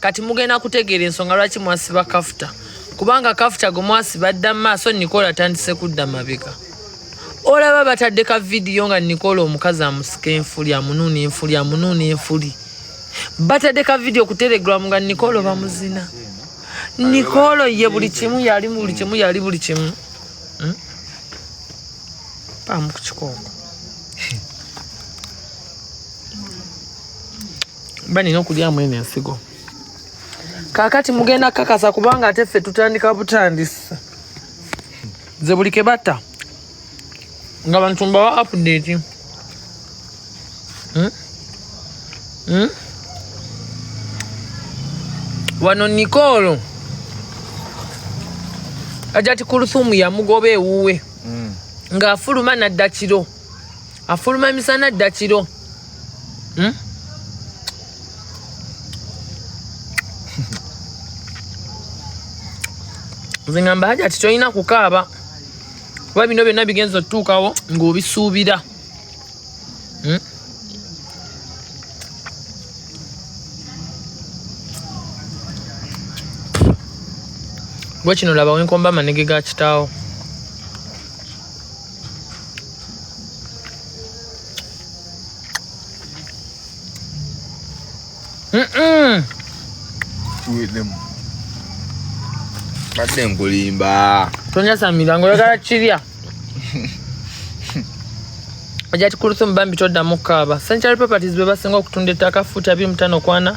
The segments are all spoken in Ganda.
kati mugenda kutegeera ensonga lwaki mwasiba kafuta kubanga kafuta gwe mwasiba dda mu maaso nikola atandise kudda mabega olaba batadde ka vidiyo nga nikola omukazi amusika enfuli amunuuna enfuli amunuuna enfuli batadde ka vidiyo ku telegramu nga nikola bamuzina nikola ye buli kimu yali buli kimu yali buli kimu hmm? paamu ku kikooko mba nina okulyamu eno ensigo kakati mugenda kakasa kubanga ate ffe tutandika butandisi nze buli kebatta nga bantu mbawa update hmm? Hmm? wano nikolo ajati kuluthumu yamugoba ewuwe hmm. ng'afuluma naddakiro afuluma emisana dda kiro hmm? nze ngamba haja ti tolina kukaaba kuba bino byonna bigenza otutuukawo ng'obisuubira hmm? gwe kino laba wenkomba amanege ga kitaawo badde nkulimba tonyasamira ngaoyagala kirya ojati kuluthumu bambi toddamu kaaba century properties bebasinga okutunda ettaka fuuti abiri mutano kwana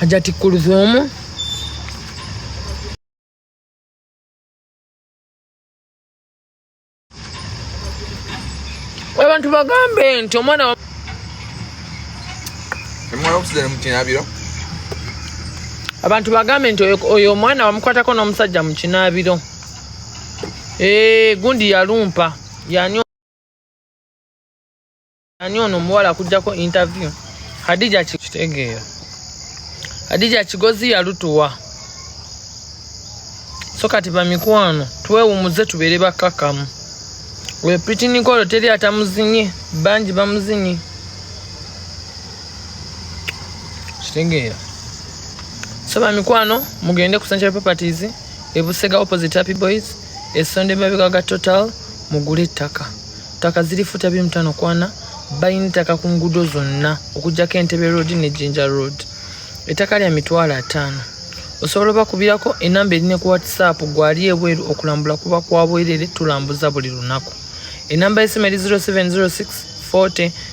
Hajati Kulthum abantu bagambe nti omwana abantu bagambe nti oyo omwana wamukwatako n'omusajja mu kinaabiro eh, gundi yalumpa yani ani ono omuwala akujjako interview hadija kitegeera hadija kigozi yalutuwa so kati bamikwano twewumuze tubeere bakkakkamu oyo pitinikolo teri atamuzinye bangi bamuzinye kitegeera so bamikwano mugende ku central properties ebusega opposite happy boys Esonda emabega ga Total mugule ettaka. Ttaka ziri futa biri mutano kwana balina ettaka ku nguudo zonna okujjako Entebbe Road ne Jinja Road. Ettaka lya mitwalo ataano. Osobola obakubirako enamba erine ku WhatsApp gwali ebweru okulambula kuba kwabwerere tulambuza buli lunaku. Enamba y'essimu eri 0706 40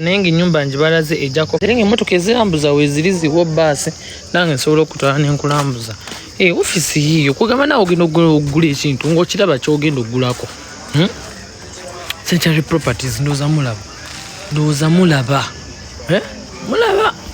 naye nga enyumba njibalaze ejako era nga emotoka ezirambuza weziri ziwo baasi nange nsobola okutwala nenkulambuza eh, ofisi yiyo kugamba nawe ogenda okugula ekintu ngaokiraba kyogenda okugulako hmm? century properties ndowooza mulaba ndowooza mulaba eh? mulaba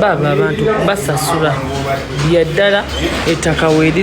baaba abantu basasula byaddala ettaka weriri